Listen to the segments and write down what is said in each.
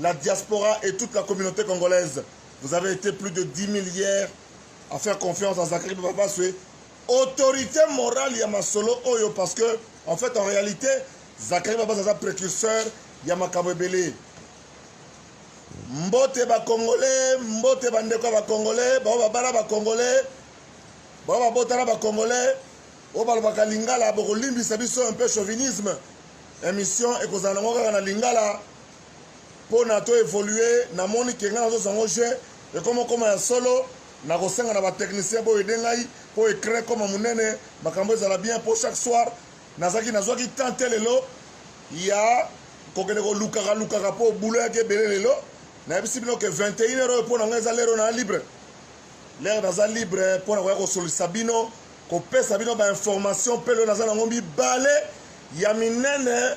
la diaspora et toute la communauté congolaise vous avez été plus de 10 000 hier à faire confiance à Zachary Babaswe autorité morale ya masolo oyo parce que en fait en réalité Zachary Babaswe aza précurseur ya makambo ebele mbote bakongole mbote bandeko ya bakongole bao babala bakongole bao babotana bakongole oyo balobaka lingala bokolimbisa biso un peu chauvinisme émission ekozala nango kaka na lingala pona to evoluer na moni ke ngai nazosa ngo jeu ekoma koma ya solo na kosenga na ba technicien bo ede ngai po ecran koma munene makambo ezala bien po chaque soir nazaki nazwaki temps te lelo ya kokende kolukaka lukaka po bulo yaki ebele lelo nayebisi bino ke 21 heure oyo po na ngai eza lero na libre lere naza libre mpo na koya kosolisa bino kopesa bino bainformation mpe lelo naza nango mibale ya minene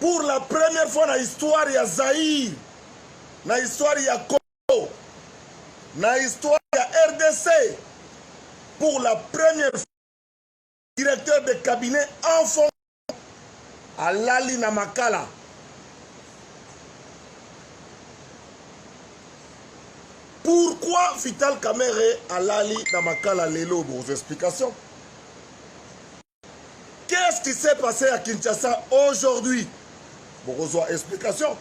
pour la première fois na histoire ya Zaïre, na histoire ya Congo, na histoire ya RDC, pour la première fois, directeur de cabinet en fond alali na makala. Pourquoi Vital Kamerhe alali na makala lelo? Vos explications. Qu'est-ce qui s'est passé à Kinshasa aujourd'hui bokozwa explication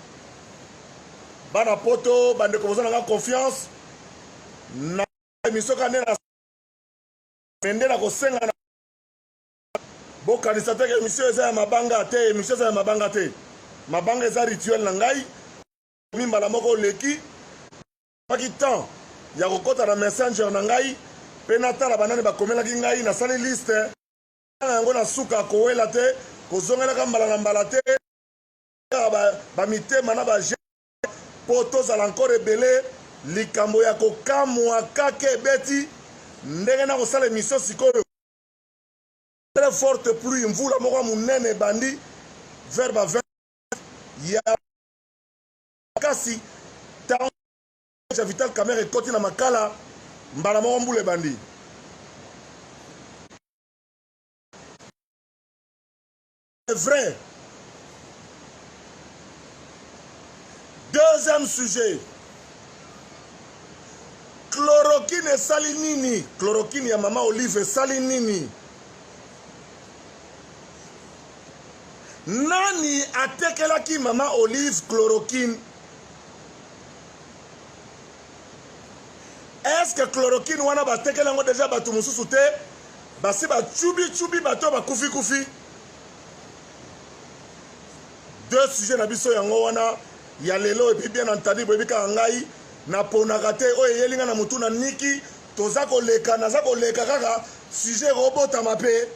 bana poto bandeko boza nanga confiance na émission ka nde na mende na kosenga na bokanisa te ke émission eza ya mabanga te émission eza ya mabanga te mabanga eza rituel na ngai mi mbala moko oleki Nazwaki temps ya kokota na Messenger na ngai mpe natala banani bakomelaki ngai. Nasali liste kotanga yango na suka, kowela te, kozongelaka mbala na mbala te, kaka ba, ba mitema na ba j'aime mpo tozala encore ebele. Likambo ya kokamwa kaka ebeti ndenge nakosala emission sikoyo. Très forte pluie, mvula moko ya monene ebandi vers ba 20 ya makasi ntango ya vital camere ekoti na makala mbala moko mbula ebandi vrai deuxième sujet chloroquine esali nini chloroquine ya mama olive esali nini Nani atekelaki mama Olive chloroquine? Est-ce que chloroquine wana batekela yango deja bato mosusu te basi bacubicubi bato bakufi kufi deux sujet na biso yango wana ya lelo epuis bien entendu boyebi kaka ngai naponaka te oyo eyeli ngai na motu na niki toza koleka naza koleka kaka sujet ekobotama mpe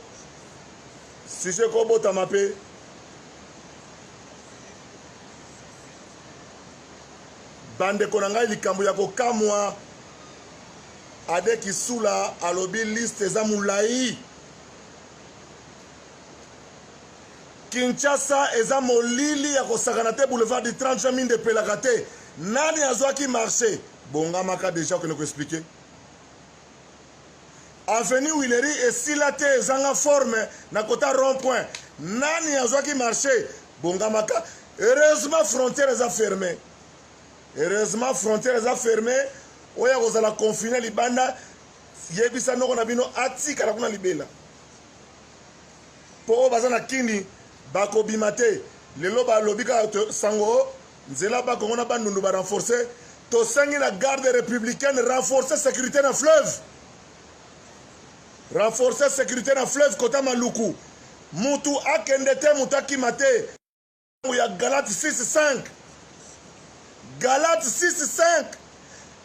Sujet ko botama pe. Bandeko na ngai likambo ya kokamwa Ade Kisula alobi liste eza mulayi. Kinshasa eza molili ya kosakana te boulevard du 30 juin minde epelaka te nani azwaki marché bongamaka deja okende koexplike Avenue Huilerie esila te ezanga forme na kota rond point. Nani azwaki marché? Bongamaka. Heureusement frontière eza fermée. Heureusement frontière eza fermée. Oya kozala confiné libanda yebisa noko na bino atikala kuna libela. Po oyo baza na kini bakobima te. Lelo balobi kaka sango Nzela ba Congo na Bandundu ba renforcer tosengi na garde républicaine renforcer sécurité na fleuve renforcer sécurité na fleuve kota maluku mutu akende te mutu akima te ya galate 65 galate 65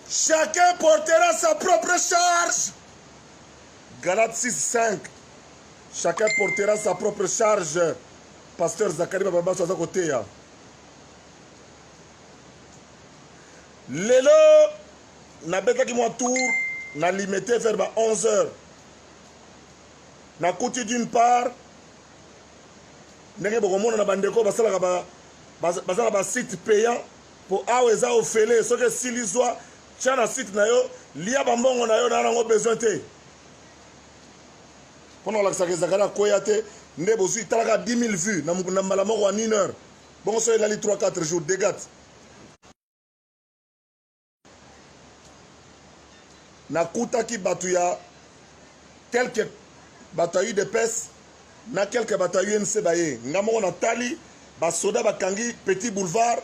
chacun portera sa propre charge galate 65 chacun portera sa propre charge pasteur zakari bababaso aza koteya lelo nabetaki mwa tour na limete vers ba 11 heures nakuti d'une part ndenge bokomona na bandeko basalaka ba, baza na basite payant mpo awa eza ofele soki esili zwa tya na site na yo lia bambongo na yo na yango besoin te mpo na kolakisaka ezakala akweya te nde bozwi talaka 10 000 vues na mbala moko ya 1 heure bongo so elali 3 4 jours degat nakutaki bato ya quelque bato ya udps na quelque bato ya unc baye nga moko natali basoda bakangi petit boulevard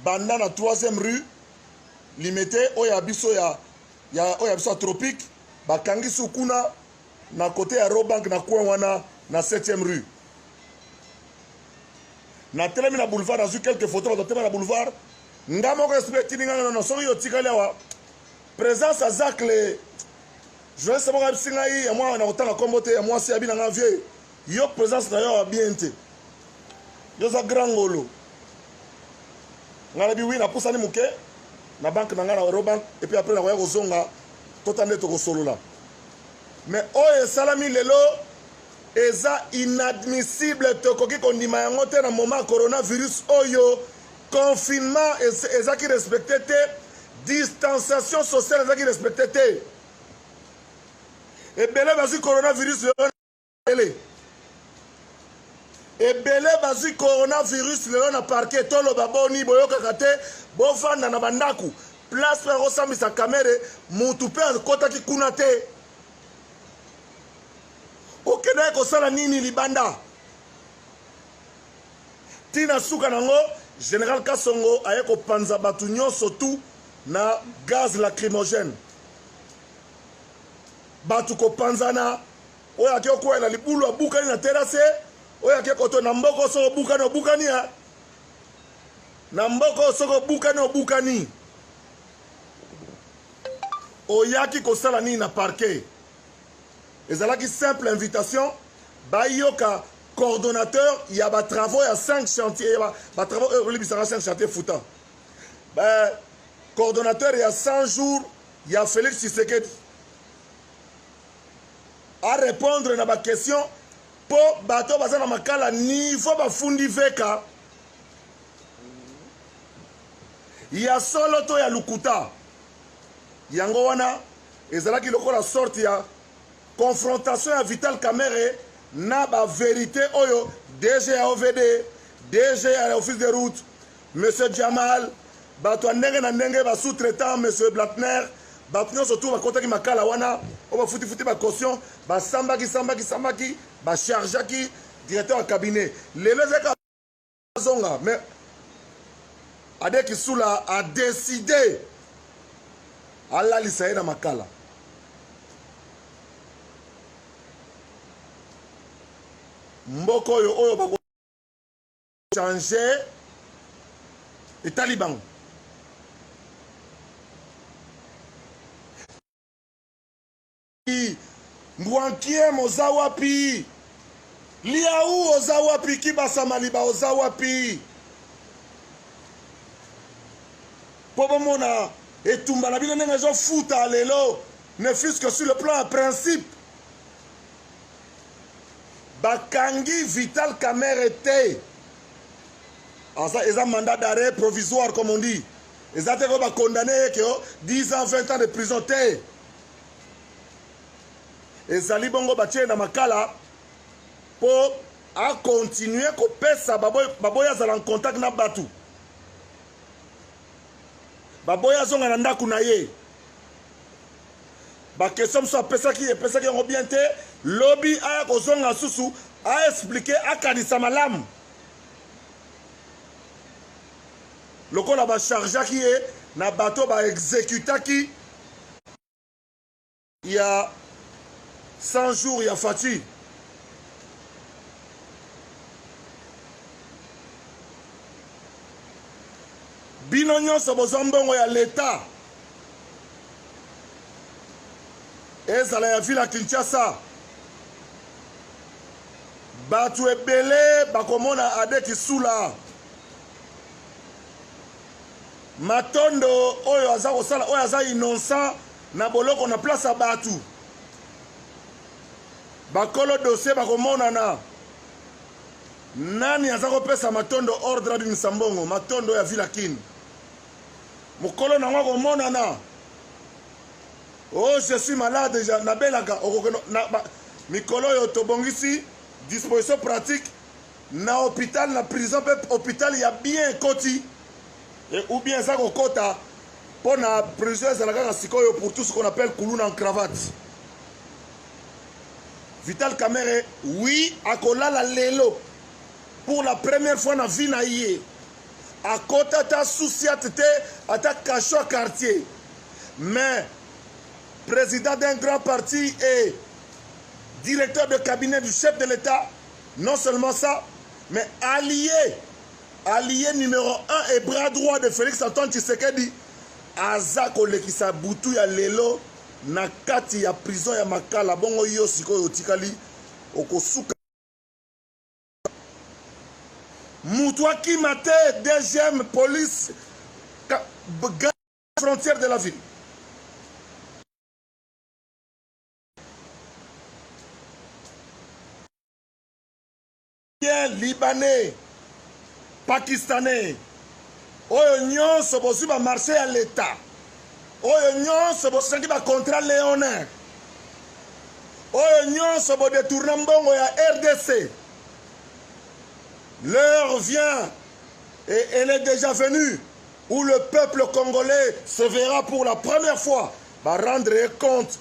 banda na 3e rue limete oyo ya biso ya, ya oyo ya biso ya tropique bakangi su kuna na kote ya robank na coin wana na 7e rue na telemi na boulevard nazwi quelques photos bato batema na boulevard nga moko esprit etindi nga nono soki yo otikali awa présence ya zacle journaliste moko ayebisi ngai ya mwana na kotanga nkombo te ya mwasi abi na nga vieux yo présence na yo awa bien te yo oza grand ngolo ngai nabi wi napusani moke na banke na ngai na eurobank epuis apres nakoya kozonga tota nde tokosolola mais oyo esalami lelo eza inadmissible tokoki kondima yango te na moment ya coronavirus oyo confinement ezaki respecte te distanciation sociale ezaki respecte te ebele bazwi coronavirus lelo ele ebele bazwi coronavirus lelo na parke toloba boni boyokaka te bofanda na bandako place mpe akosambisa kamere motu mpe akotaki kuna te okendaki kosala nini libanda ntina suka nango général kasongo aye kopanza bato nyonso tu na gaz lacrymogène bato kopanzana oyo ake okwela libulu abukani na terase oyo ake koto na mboko soko obukani obukani ya na mboko soko obukani obukani oyaki kosala nini na parquet ezalaki simple invitation bayoka coordonnateur ya batravaux ya 5 chantier ya batravaux oyo olibisaka 5 chantier futa ba coordonnateur ya 100 jours ya félix tshisekedi arépondre na baquestion mpo bato oyo baza na makala niveau bafundi veka ya solo to ya lokuta yango wana ezalaki lokola sorte ya confrontation ya vital kamere na baverité oyo dg ya ovd dg ya office de route monsieur jamal bato ya ndenge na ndenge basous-traitant monsieur blatner bato nyonso tu bakotaki makala wana oyo bafutifuti bacaution basambaki sambaki sambaki bachargeaki directeur ya cabinet lelo ezalaki azonga mais ade kisula a décide alalisa ye na makala mboka oyo oyo bako changer etali bango Mbwankiem oza wapi? Liaou oza wapi? Kibasa Maliba oza wapi? Mpo bomona etumba na bino ndenge ezofuta lelo ne fût-ce que sur le plan ya principe bakangi vital kamere te aza eza mandat d'arrêt provisoire comme on dit eza te ko bacondamne ye ke 10 ans 20 ans de prison te ezali bongo batie na makala mpo akontinue kopesa baboyi azala en contact na bato baboyi azonga na ndako na ye bakestion mosusu apesaki epesaki yango bien te lobi aya kozonga susu aexplike akanisa malamu lokola ba chargeaki ye na bato ba executaki ya 100 jours ya Fatih bino nyonso bozwa mbongo ya leta ezala ya vile ya kinshasa bato ebele bakomona ade kisula matondo oyo aza kosala oyo aza innocent na boloko na place ya bato bakolo dossier bakomonana nani aza kopesa matondo ordre abimisa mbongo matondo ya villa kin mokolo nango akomonana oh je suis malade nabelaka okokeno mikolo oyo tobongisi disposition pratique Na hopital na prison pe hopital ya bien ekoti et ou bien eza kokota po na prison ezala kaka sikoyo pour tout ce qu'on appelle kuluna en cravate vital kamere oui akolala lelo pour la première fois na vie na ye akota ata souciate te ata cachot ya quartier mais président d'un grand parti et directeur de cabinet du chef de l'état Non seulement ça, mais allié, allié numéro 1 et bras droit de Félix Antoine Tshisekedi, aza kolekisa butu ya lelo na kati ya prison ya Makala. Bongo yo sikoyo otikali okosuka mutu akima te deuxième police frontière de la ville libanais pakistanais oyo nyonso bozwi bamarché ya leta oyo nyonso bosengi bacontrat leonin oyo nyonso bodetourna mbongo ya rdc l'heure vient et elle est déjà venue où le peuple congolais se verra pour la première fois va rendre compte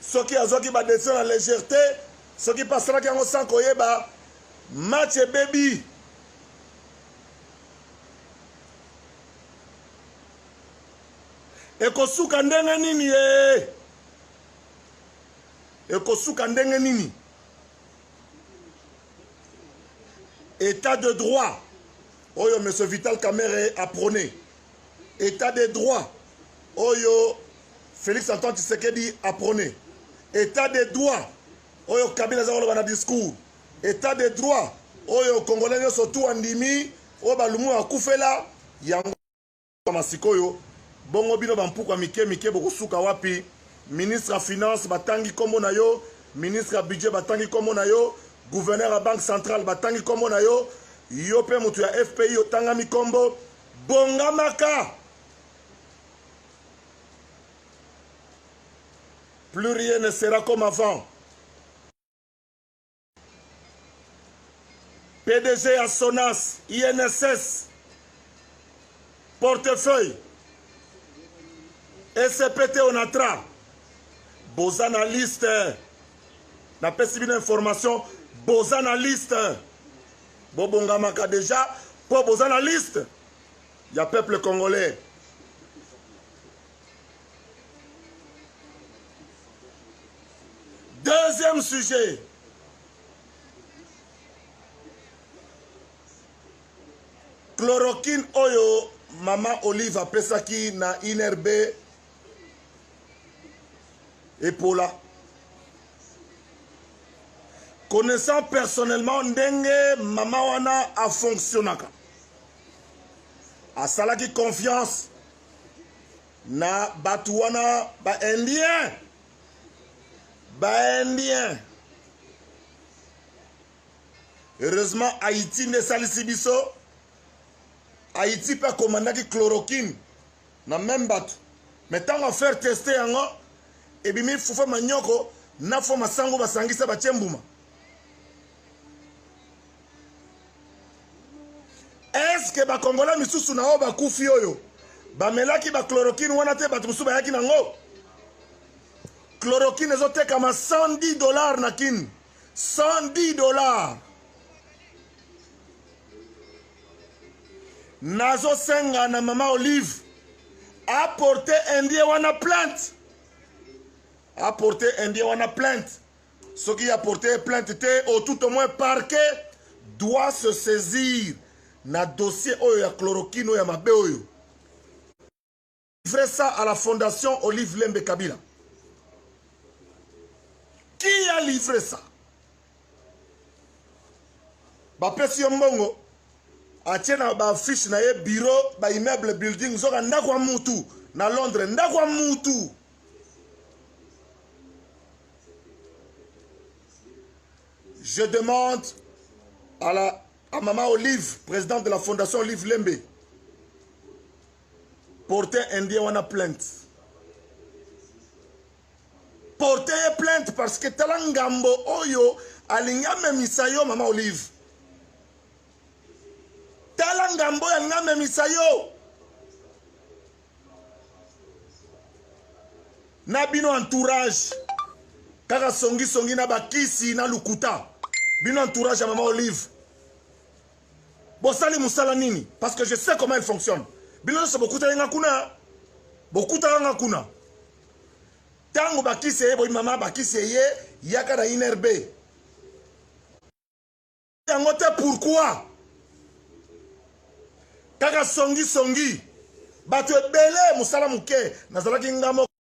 soki azwaki ba decision na légèreté soki mpe asalaki yango sans koyeba match ebebi ekosuka ndenge nini ye ekosuka ndenge nini état de droit oyo monsieur vital kamere aprone état de droit oyo félix antoine tshisekedi aprone état de droit oyo kabila aza koloba na discours état de droit oyo congolais nyonso tu andimi oyo balumu bakufela yango masikoyo bongo bino bampuku ya mike mike bokosuka wapi ministre ya finance batangi nkombo na yo ministre ya budget batangi nkombo na yo gouverneur ya banque centrale batangi nkombo na yo yo mpe moto ya fpi otangami nkombo Bongamaka! Plus rien ne sera comme avant. PDG ya Sonas, INSS, portefeuille, ECPT Onatra, boza na liste, napesi bino information, boza na liste. bobongamaka deja mpo boza na liste ya peuple congolais deuxième sujet chloroquine oyo mama olive apesaki na inrb epola connaissant personnellement ndenge mama wana afonctionnaka asalaki confiance na bato wana baindien baindien heureusement haïti nde esalisi biso haïti mpe akomandaki chloroquine na meme batu mais tango a faire tester yango ebimi fufa manyoko na fo masango basangisa batie mbuma eske bakongola misusu na oyo bakufi oyo bamelaki bachloroquine wana te bato mosusu bayaki nango chloroquine ezotekama 110 dollar na kine 110 dollar nazo senga na mama olive apporte indien wana plainte apporte indien wana plainte soki apporte ye plainte te au tout au moins parquet doit se saisir na dossier oyo ya chloroquine oyo ya mabe oyo livrer ça à la fondation Olive Lembe Kabila. Qui a livré ça bapesi yo mbongo atie na baaffiche na ye bureau baimmeuble building zoka ndako ya mutu na londres ndako ya mutu je demande à, la, à maman olive présidente de la fondation olive lembe porte indien wana plainte porte ye plainte parce que tala ngambo oyo alingi amemisa yo mama olive tala ngambo oyo alingi amemisa yo na bino entourage kaka songisongi na bakisi na lukuta bino entourage ya mama olive bosali musala nini parce que je sais comment il fonctionne bino nyonso bokutaki nga kuna bokutaka nga kuna ntango bakisi eye boyimama bakisi eye yaka na inrb yango te pourkui kaka songisongi bato ebele mosala moke nazalaki nga moko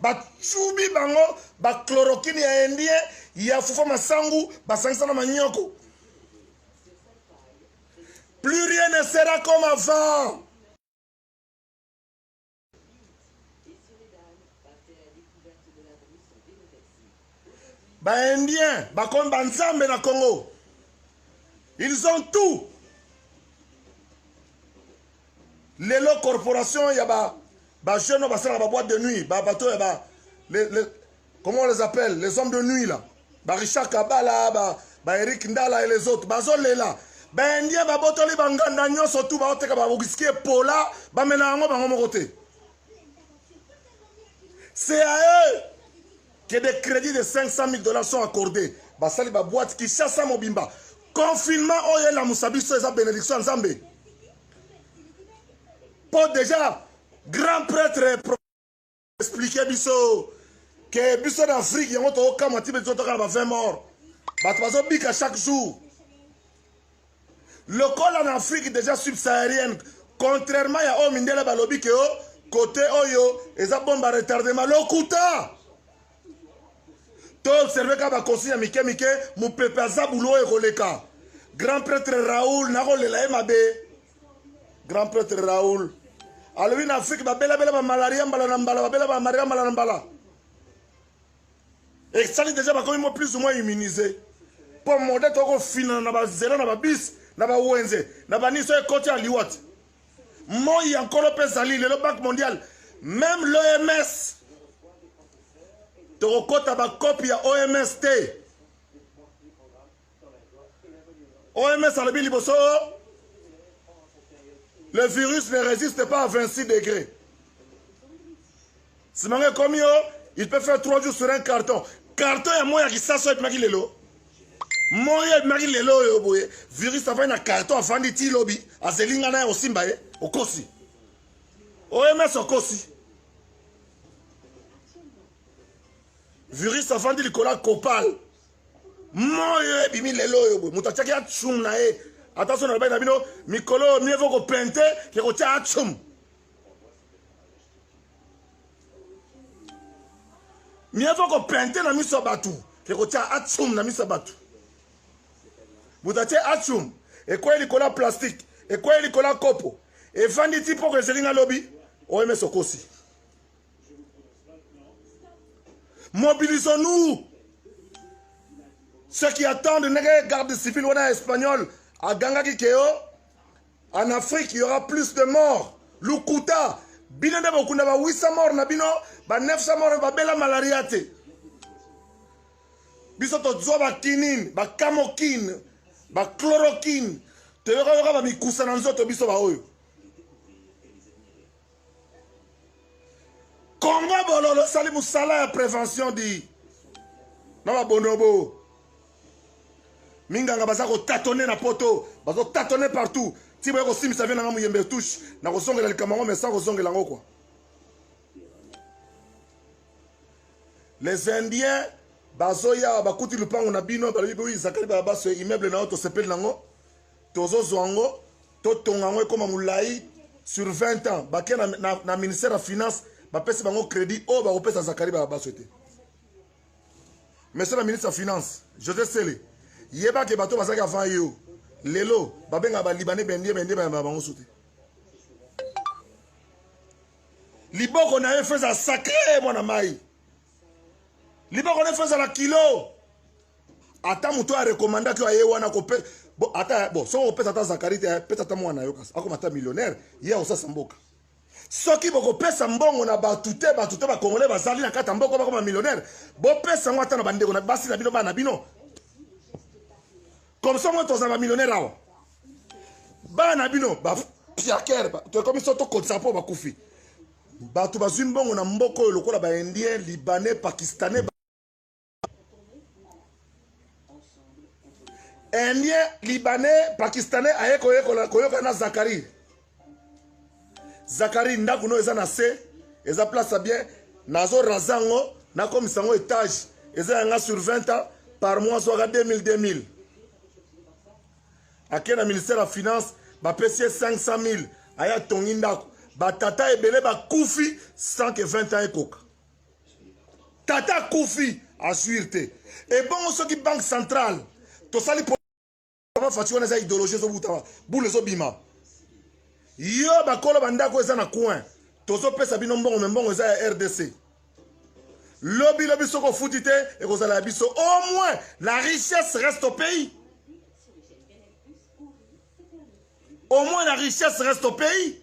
bacubi bango bachloroquine ya indien ya fufa masangu basangisa na manyoko plus rien ne sera comme avant baindien bakomi banzambe na congo ils ont tout lelo corporation ya ba Ba jeunes oyo basalaka ba boîte de nuit, ba bateau ya ba les, les, comment on les appelle les hommes de nuit là ba Richard Kabala ba, ba Eric Ndala et les autres bazolela baindien babotoli banganda nyonso tu baoteka bawiski epola bamela yango bango moko te c'est à eux que des crédits de 500 000 dollars sont accordés basali baboite kinshasa mobimba confinement oyo elamusa biso eza bénédiction ya nzambe po deja grand prêtre explike biso ke biso na afrique yango tokokamwa ti biso tokala ba 20 mort bato bazobika chaque jour lokola na afrique deja subsaharienne contrairement ya oyo mindele balobi ke o kote oyo eza bomba retardement lokuta to observe ka bakonsi ya mike mike mopepe aza bulo oyo ekoleka grand prêtre raoul nakolela ye mabe grand prêtre raoul alobi na afrike babelabela bamalaria mbala na mbala babela bamalaria mbala na mbala esali deja bakomi mo plus ou moins immunise mpo mode tokofinana na bazela na babisi na bawenze na baniso ekoti ya liwati moi ya nkolo mpe ezali lelo banque mondiale meme l'oms tokokɔta bakopi ya oms te oms alobi liboso le virus ne résiste pas à 26 degré Simanga ekomi yo, il peut faire 3 jours sur un carton. Carton ya moya kisaso epimaki lelo. Moya epimaki lelo oyo boye. Virus afandi na carton afandi ti lobi. Azeli nga na ya osimba ye. Okosi. OMS okosi. Virus afandi likolo ya copal. Moyo ebimi lelo oyo boye. Moto atiaki atshum na ye. Ata so na lobai na bino mikolo mieux vaut kopente ke kotya atshum. mieux vaut kopente na miso ya bato ke kotya atsum na miso ya bato moto atye atsum ekwei likolo ya plastike ekwei likolo ya kopo efandi ti mpoko ezeli nga lobi oms okosi mobilisons-nous ceux qui attendent ndenge garde civile wana ya espagnol agangaki keo En Afrique, il y aura plus de morts. Lukuta, bino nde bokunda ba 800 morts na bino, ba 900 morts babela malaria te. Biso tozwa ba kinine, ba camokine, ba chloroquine, toyoka yoka ba mikusa na nzoto biso ba oyo. Congo bololo sali musala ya prévention di na babonobo minganga baza kotatone na poto bazotatone partout ti boye kosimbisa vie nanga moyembe touche na kozongela likambo yango mesa kozongela yango kua les indiens bazoya bakuti lupango na bino balobi boyi zakali balabaso immeuble na yo tosepeli nango tozo zwa ngo to tonga ngo ekoma mulayi sur 20 ans bakia na, na, na ministère ya finance bapesi bango crédit oyo bakopesa zakari babaso te monsieur le ministre ya finance josé sele yeba ke bato bazalaki avant yo lelo babenga balibane bendie bendie bayamba bango so te liboko na ye feza sacre mwana mai liboko nefu ezala kilo ata moto oyo arekomandaki oyo aye wana kope bo ata bo soki okopesa ata zakari te pesa ata mwana yo kasi akoma ata millionnaire ye akosasa mboka soki bokopesa mbongo na bato te bato te bakongole bazali na kati ya mboka bakoma millionnaire bopesa yango ata na bandeko na basi na bino bana na bino comme ça moi tozala bamillionnaire awa bana na bino bapiakere tokomi so tokotisa mpo bakufi bato bazwi mbongo na mboka oyo lokola ba indien libanais pakistanais indien libanais pakistanais aye koyoka na zakari zakari ndako no eza na se eza place ya bien nazo raza yango nakomisa yango etage eza yanga sur 20 ans par mois zwaka 2000 2000 ake na ministère ya finance bapesi ye 500 000 aye atongi ndako batata ebele bakufi sans que 20 ans ekoka tata akufi azuire te ebongo soki banque centrale tosali fati wana eza idéologie ezobuta bule ezobima yo bakolo bandako eza na coin tozopesa bino mbongo me mbongo eza ya rdc lobi lobi soki ofuti te ekozala ya biso au moins la richesse reste au pays au moins la richesse reste au pays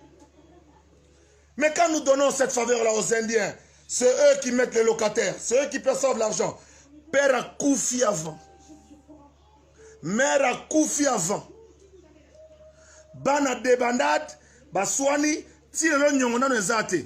mais quand nous donnons cette faveur là aux indiens c'est eux qui mettent les locataires c'est eux qui perçoivent l'argent père akufi avant mère akufi avant bana debandade baswani ti lelo nyongo nano eza te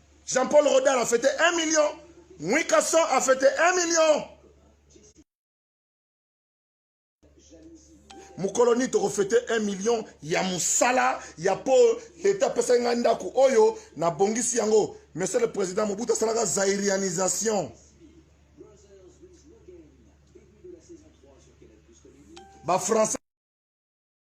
Jean-Paul Rodal a fêté 1 million. Mwikason a fêté 1 million. mokolo nini tokofete 1 million ya mosala ya mpo leta apesaki ngai ndako oyo nabongisi yango monsieur le président mobutu asalaka zairianisation bafrançais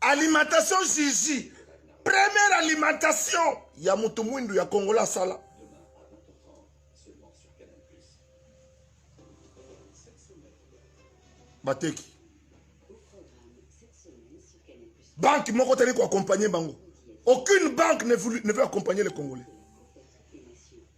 alimentation jiji première alimentation ya moto mwindu ya kongola asala bateki banque moko tali koaccompagne bango aucune banque ne veut, ne veut accompagner les congolais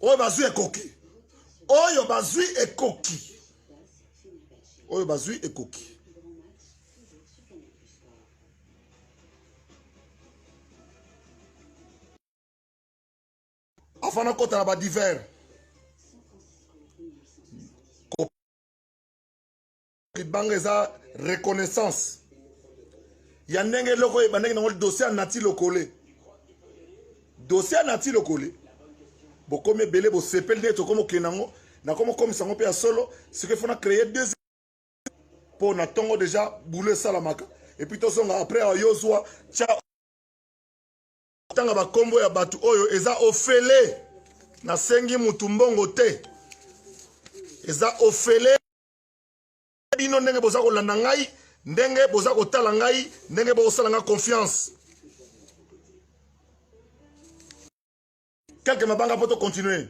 oyo bazwi ekoki oyo bazwi ekoki oyo bazwi ekoki afana akota na badivers libanga eza reconnaissance ya ndenge eloko ebandaki nango dossier ya nati lokole dossier ya nati lokole bokomi ebele bosepeli ndenge tokomi okende yango nakomi okomisa yango mpe ya solo sikoy fona créer deux mpo na ntongo deja boule esalamaka epuis tozonga après awa yo zwa tya tanga bakombo ya bato oyo eza ofele nasengi motu mbongo te eza ofele bino ndenge boza kolanda ngai ndenge boza kotala ngai ndenge bokosala ngai confiance quelque mabanga mpo tocontinue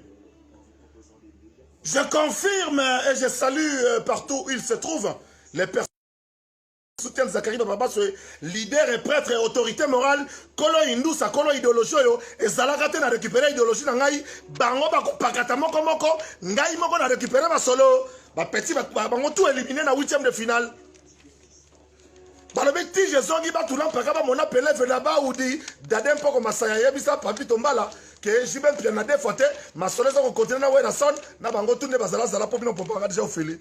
je confirme et je salue euh, partout où il se trouve les personnes soutien Zachary Papa Baswe, leader et prêtre et autorité morale, kolo indusa, kolo idéologie oyo, ezalaka te na récupérer idéologie na ngai, bango bakopakata moko moko, ngai moko na récupérer ba solo, ba petit ba, ba, bango tout éliminé na 8e de finale. balobi ti jezongi batula mpaka bamona peleve na baudi dade mpoko masaya yebisa papi tombala ke jibe mpia na defo te masolo eza kokontinue na werason na bango tu nde bazalazala mpo bino popanga deja ofeli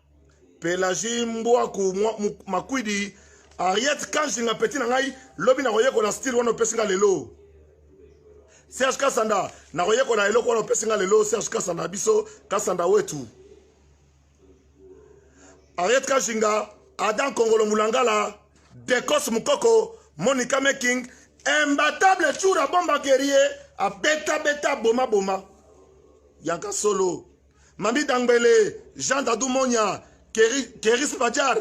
Pelagie Mbwaku Makwidi Ariette Kanjinga petit na ngai lobi na koyekola style wana opesi nga lelo Serge Kasanda na koyekola eloko wana opesi nga lelo Serge Kasanda biso Kasanda wetu Ariette Kanjinga Adam Kongolo Mulangala Dekos Mukoko Monica Making imbattable Chura Bomba Guerrier abeta beta boma boma yaka solo Mami Dangbele, Jean Dadou Monya, Keris Badjar,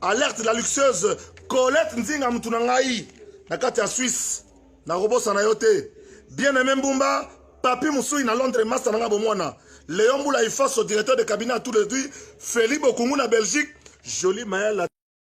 Alerte la luxueuse, Colette Nzinga mutu na ngai na kati ya Suisse, na kobosa na yo te. Bien aimé Mbumba, Papi Musui na Londres, Master na nga bomwana. Léon Boula Ifaso, directeur de cabinet à tous les deux, Feli Bokungu na Belgique, Jolie Maël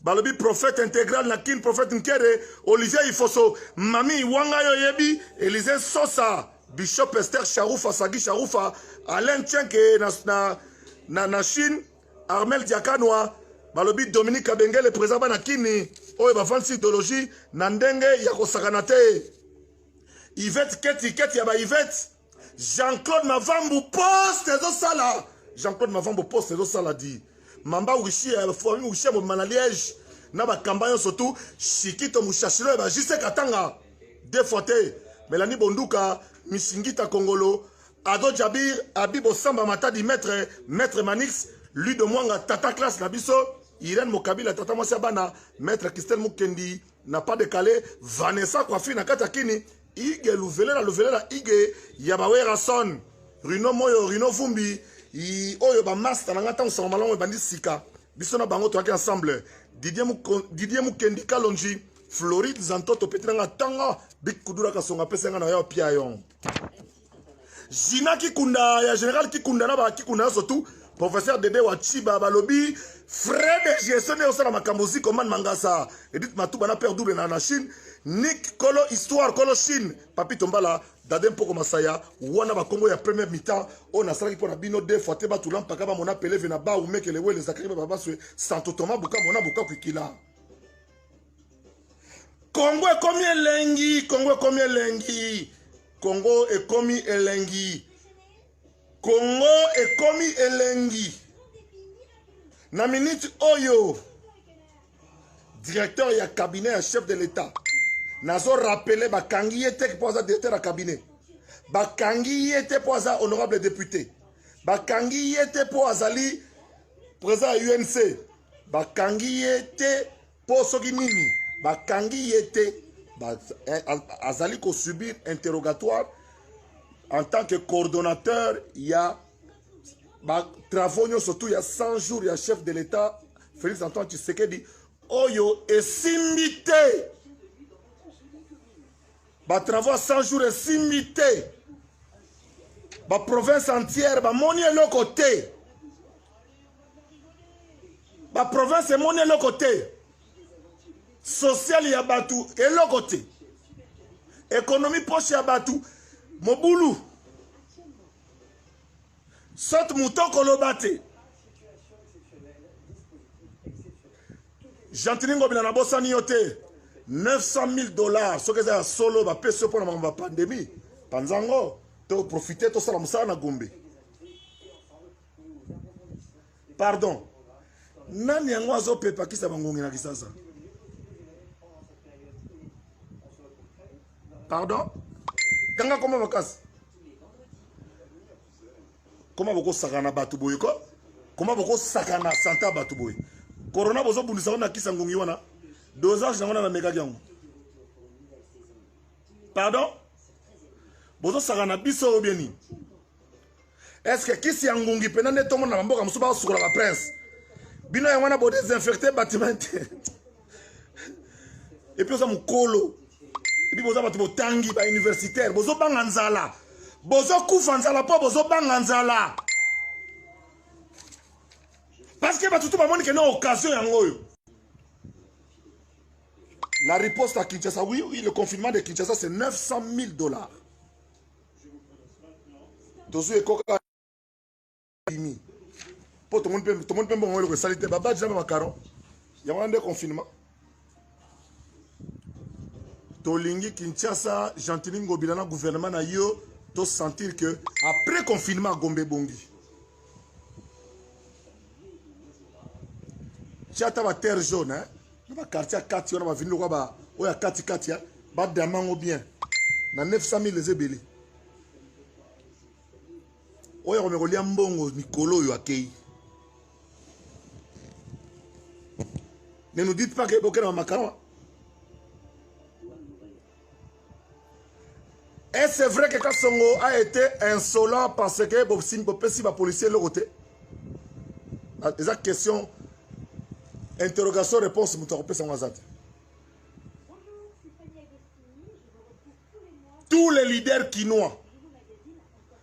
balobi prophète intégral na kin prophète nkere olivier ifoso mami wanga yo oyebi elise sosa bishop ester sharufa sagi sharufa alain chenke na, na, na, na chine armel diakanwa balobi dominique kabengele président bana kini oyo bavandisi idéologie na ndenge ya kosakana te ivete keti keti ya ba ivete Jean-Claude Mavambu poste ezosala Jean-Claude Mavambu poste ezosala di mamba wishi ya eh, famille wishi ya mobima na liège na bakamba nyonso tu shikito mushashilo ya bajise katanga de fois te melani bonduka misingita kongolo ado jabir abi bosamba matadi maître maître manix ludo mwanga tata classe na biso irene mokabila tata mwasi ya bana maître christelle mukendi na pas de calais vanessa kwafi na kati ya kini Ige luvelela luvelela Ige ya ba Werrason Rino Moyo Rino Vumbi i oyo ba master na nga tango sango malamu ebandi sika biso na bango toyaki ensemble Didier Muko Didier Mukendi Kalonji Floride Zantoto peti na nga tanga big kudura kasonga pesa nga na yo pia yong Gina Kikunda ya General Kikunda na ba Kikunda nyonso tout professeur Dede wa Chiba balobi frais de gestion nde osala makambo ziko man mangasa Edith Matuba na père double na na Chine Nick kolo histoire kolo Chine Papi Tombala Dade Mpoko Masaya wana ba Kongo ya première mi-temps oyo nasalaki mpo na bino deux fois te batula mpaka bamona peleve na ba umekele wele zakaki babaswe santo toma buka mona buka kwikila Congo ekomi elengi, Congo ekomi elengi, Congo ekomi elengi, Congo ekomi elengi. Na minute oyo directeur ya cabinet ya chef de l'etat nazo rappeler bakangi ye te mpo aza directeur ya cabinet, bakangi ye te mpo aza honorable député, bakangi ye te mpo azali président ya UNC, bakangi ye te Po soki nini bakangi ye te eh, azali ko subir interrogatoire en tant que coordonnateur ya ba travaux nyonso tout ya 100 jours ya chef de l'État Félix Antoine Tshisekedi oyo esimbi te ba travaux 100 jours esimbi te ba province entière bamoni eloko te ba province emoni eloko te sociale ya bato eloko te ekonomi poche ya bato mobulu soki moto koloba te gentini ngobila nabosani yo te 900 000 dollars soki eza ya solo bapesi yo mpo na makambo ya pandemie panza yango toprofite tosala mosala na gombe pardon nani yango azopepakisa bangongi na kisasa pardon kanga koma makasi koma bokosakana bato boye ko koma bokosakana sante ya bato boye korona bozobundisa ngo na kisa ngongi wana dosage yango na namekaki yango pardon bozosakana biso oyo bie nini est ce que kisi ya ngungi mpena nde tomona na bamboka mosusu baosukola ba prince bino yango wana bodesinfecte batiment te epuis oza mokolo epuis boza bato botangi bauniversitaire bozobanga nzala bozokufa nzala mpo bozobanga nzala parce que bato to bamoni kena occasion yango oyo la riposte à kinshasa oui, oui le confinement de kinshasa c'est 900 000 dollars tozwi ekoka bimi mpo tomoni mpe mbongo eloko esali te babadi na bamakaron yango wana nde confinement tolingi kinshasa gentini ngobila na gouvernement na yo tosentir que après confinement gombe ebongi tia ata baterre jaune eh? na bakartier ya kati wana bavini lokwa ba oyo ya katikati eh? badama yango bien na 900 000 eza ebele oyo akomeka kolia mbongo mikolo oyo akei ne nous dites pas que bokenda bamakala Et c'est vrai que Kassongo a été insolent parce que Bobsim Bopesi va policier le côté. Eza question interrogation réponse mutu akopesa ngo aza te. Tous les leaders kinois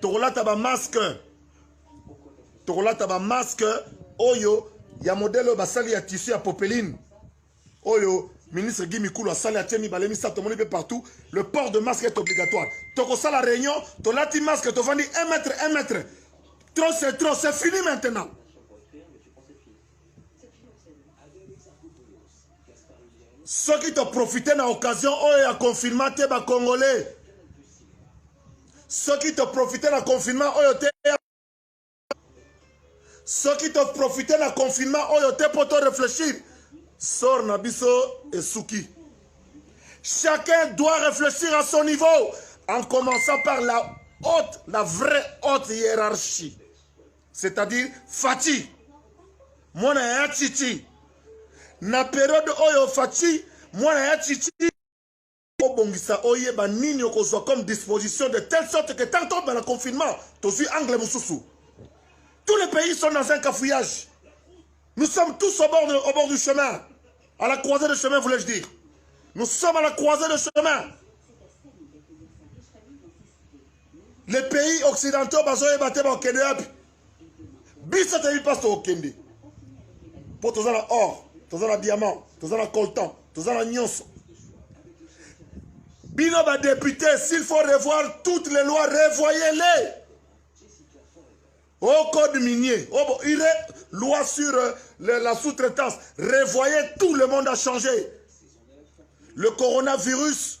tokolata ba masque tokolata ba masque oyo ya modele oyo basali ya tissu ya popeline oyo ministre Guy Mikulu asali atie mibale misato tomoni mpe partout le port de masque est obligatoire tokosala réunion tolati masque tovandi 1 mètre 1 mètre trop c'est trop c'est fini maintenant soki toprofite na occasion oyo ya confinement te bacongolais soki toprofite na confinement oyo te soki toprofite na confinement oyo te mpo toreflechir sor na biso esuki chacun doit réfléchir à son niveau en commençant par la haute la vraie haute hiérarchie c'est-à-dire Fatih mwana ya Titi na periode oyo Fatih mwana ya Titi obongisa oyeba nini okozwa comme disposition de telle sorte que tant tobanda confinement tozwi angle mosusu tous les pays sont dans un cafouillage nous sommes tous au bord, de, au bord du chemin à la croisée de chemin voulais-je dire nous sommes à la croisée de chemin les pays occidentaux bazoyeba te bakokende wapi biso toyebi mpasi tokokende mpo toza na or toza na diamant toza na coltan toza na nyonso bino badepute s'il faut revoir toutes les lois revoyez-les au code minier au oh, ire loi sur euh, le, la sous-traitance revoyez tout le monde a changé le coronavirus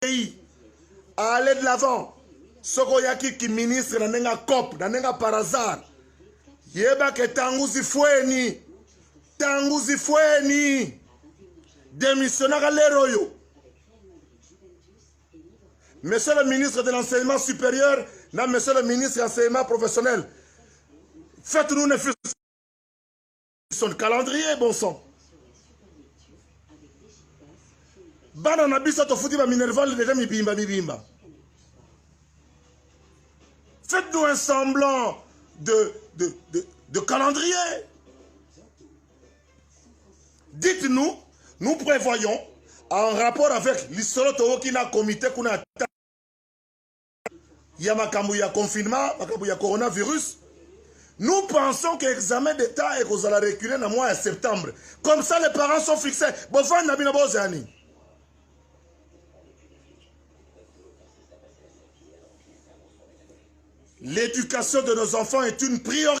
pays à aller de l'avant soki oyaki kiministre na ndenge ya cop na ndenge ya par hasard yebake ntango zifweni ntango zifweni demissionnaka lere oyo monsieur le ministre de l'enseignement supérieur na monsieur le ministre ya enseignement professionnel faites nous ne son calendrier bon sang bana na biso tofuti ba minerval deja mibimba mibimba faites nous un semblant de, de, de, de calendrier dites nous nous prévoyons en rapport avec lisolo towoki na comité kuna ya makambo ya confinement makambo ya coronavirus nous pensons que examen d'état ekozala reculer na mois ya septembre comme ça les parents sont fixés bovandi na bino bozela nini l'éducation de nos enfants est une priorité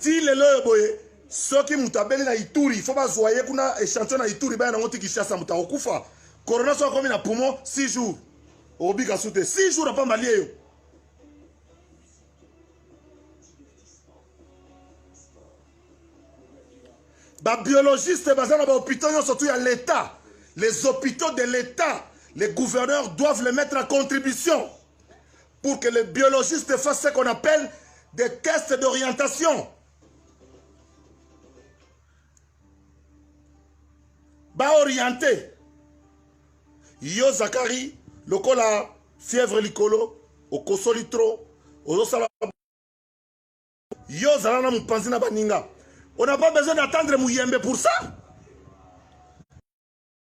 ti lelo oyo boye soki moto abeli na ituri fo bazwa ye kuna echantio na ituri baya nango ti kishasa moto akokufa corona soki akomi na poumon 6 jours okobika su te 6 jours apamba lie yo babiologiste baza na bahôpitaux nyonso tu ya l'état les hôpitaux de l'état les gouverneurs doivent les mettre à contribution pour que les biologistes fassent ce qu'on appelle des tests d'orientation. Ba orienté. Yo Zakari, lokola fièvre likolo, okosoli trop, ozosala yo zala na mopanzi na baninga on n'a pas besoin d'attendre muyembe pour ça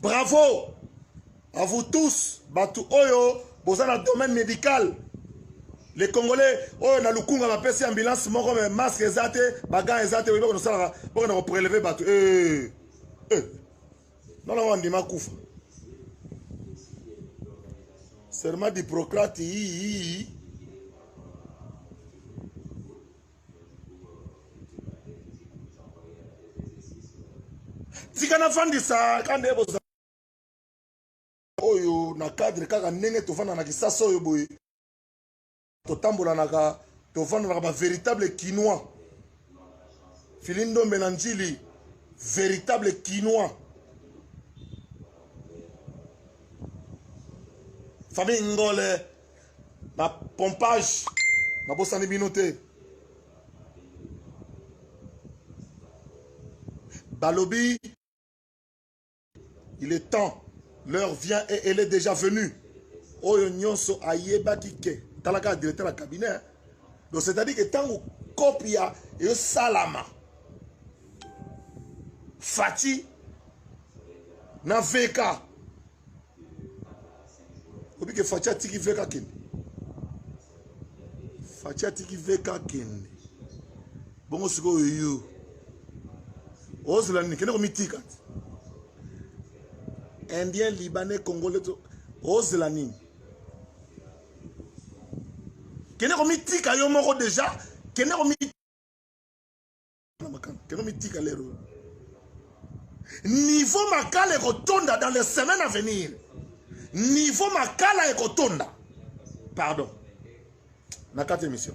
bravo à vous tous bato oyo boza na domaine médical les congolais oyo na lukunga bapesi ambulance moko me masque eza te bagan eza te oyebaka nosalaka bokenda kopreleve bato eh, eh. nona ngo andima kufa serment d'hippocrate yii tika nafandisa ka nde boza oyo na cadre kaka ndenge tofanda na kisasa oyo boye totambolanaka tofandolaka bavéritable kinois fili ndombe na njili véritable kinois famille ngole na pompage nabosani bino te balobi il est temps l'heure vient et elle est déjà venue oyo nyonso ayebaki ke talaka directeur ya cabinet donc c'est à dire que ntango kopi ya esalama fati na veka obi ke faci atiki veka kende faci atiki veka kende bongo sikoyo yo ozela nini kende komitika ti indien libanais congolais to ozela nini kende komitika yo moko deja kende komitika na makala keno mitika lero niveau makala ekotonda dans les semaines à venir niveau makala ekotonda pardon na kati émission